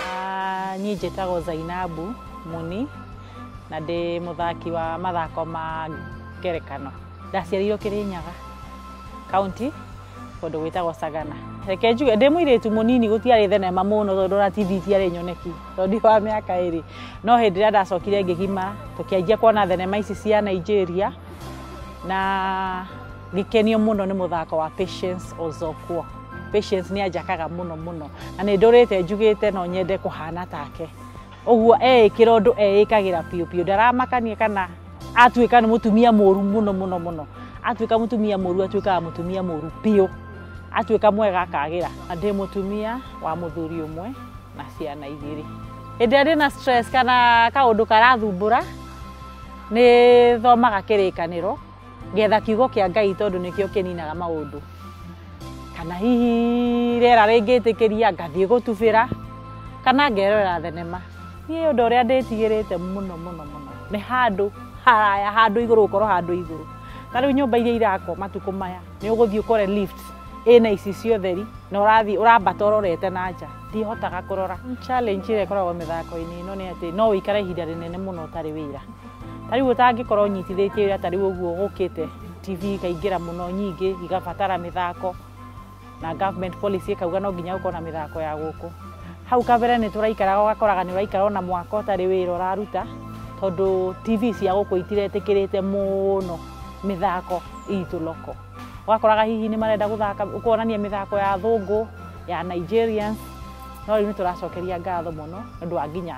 Ah, Niĩ njĩtagwo Zainabu Muni na ndĩ mũthaki wa mathako ma ngerekano. Ndaciarirwo Kĩrĩnyaga kaunti kũndũ gwĩtagwo Sagana. Reke njuge ndĩ mũirĩtu mũnini gũtiarĩ thenema mũno tondũ ona TV itiarĩ nyoneki tondũ ndi wa mĩaka ĩrĩ. No hĩndĩ ĩrĩa ndacokire ngĩgima tũkĩanjia kuona thenema ici cia Nigeria na Ngĩkenio mũno nĩ mũthako wa Patience Ozokwo. Patience nĩ anjakaga mũno mũno na nĩ ndũrĩte njugĩte no nyende kũhana take. Ũguo eĩkĩra ũndũ eĩkagĩra biũ biũ, ndaramakania kana atuĩka nĩ mũtumia mũru mũno mũno mũno. Atuĩka mũtumia mũru atuĩkaga mũtumia mũru biũ, atuĩka mwega akagĩra. Na ndĩ mũtumia wa mũthuri ũmwe na ciana igĩrĩ. Hĩndĩ ĩrĩa ndĩna stress kana kaũndũ karathumbũra nĩ thomaga kĩrĩkanĩro. Getha kiugo kĩa Ngai tondũ nĩkĩo kĩninaga maũndũ. Kana hihi rĩera rĩngĩtĩkĩria ngathiĩ gũtubĩra kana ngerorera thenema. Niĩ ũndũ ũrĩa ndĩtigĩrĩte mũno mũno mũno nĩ handũ haraya, handũ igũrũ gũkorwo handũ igũrũ. Ta rĩu nyũmba iria irakwo matukũ maya nĩ ũgũthiĩ ũkore lift ĩna ici cia ũtheri na ũrathiĩ ũrambata ũrorete na nja. Ndihotaga kũrora. Challenge ĩrĩa ĩkoragwo mĩthako-inĩ ĩno nĩ atĩ no ũikare ihinda rĩnene mũno ũtarĩ wĩra. ta rĩu ũtangĩkorwo ũnyitithĩtie wĩra ta rĩu ũguo gũkĩte tv ikaingĩra mũno nyingĩ igabatara mĩthako na government policy ĩkauga no nginya gũkorwo na mĩthako ya gũkũ hau kabere nĩ tũraikaraga ũgakoraga nĩ ũraikara ona mwaka ũtarĩ wĩra ũraruta tondũ tv cia gũkũ itiretĩkĩrĩte mũno mĩthako itũ loko ũgakoraga hihi nĩ marenda gũthaka kuonania mĩthako ya thũngũ ya Nigerians no rĩu nĩ tũracokeria ngatho mũno nĩ ũndũ wa nginya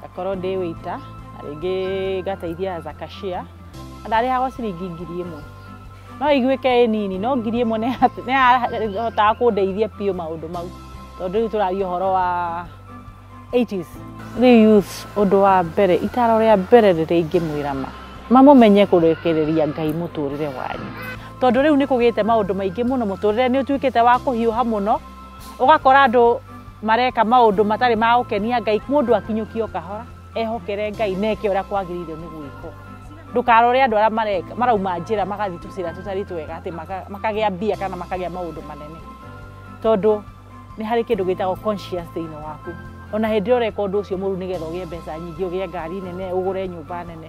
ngakorwo ndĩ wĩita na rĩngĩ ngateithia as a cashier na ndarĩhagwo ciringi ngiri ĩmwe no ĩiguĩke ĩ nini no ngiri ĩmwe nĩ ya- nĩ yahotaga kũndeithia biũ maũndũ mau tondũ rĩu tũraria ũhoro wa 80s rĩu youth ũndũ wa mbere itaro rĩa mbere rĩrĩa ingĩmwĩra ma mamũmenye kũrekereria ngai mũtũrĩre wanyu tondũ rĩu nĩ kũgĩte maũndũ maingĩ mũno mũtũrĩre nĩ ũtuĩkĩte wa kũhiũha mũno ũgakora andũ mareka maũndũ matarĩ ma gũkenia ngai mũndũ akinyũkio kahora ehokere ngai na eke ũrĩa kwagĩrĩirwo nĩ gwĩkwo ndũkarore andũ arĩa mareka marauma njĩra magathiĩ tũcĩra tũtari twega atĩ maka- makagĩa mbia kana makagĩa maũndũ manene tondũ nĩ harĩ kĩndũ gĩtagwo conscious thĩinĩ waku ona hĩndĩ ĩrĩa ũreka ũndũ ũcio mũru nĩgetha ũgĩe mbeca nyingĩ ũgĩe ngari nene ũgũre nyũmba nene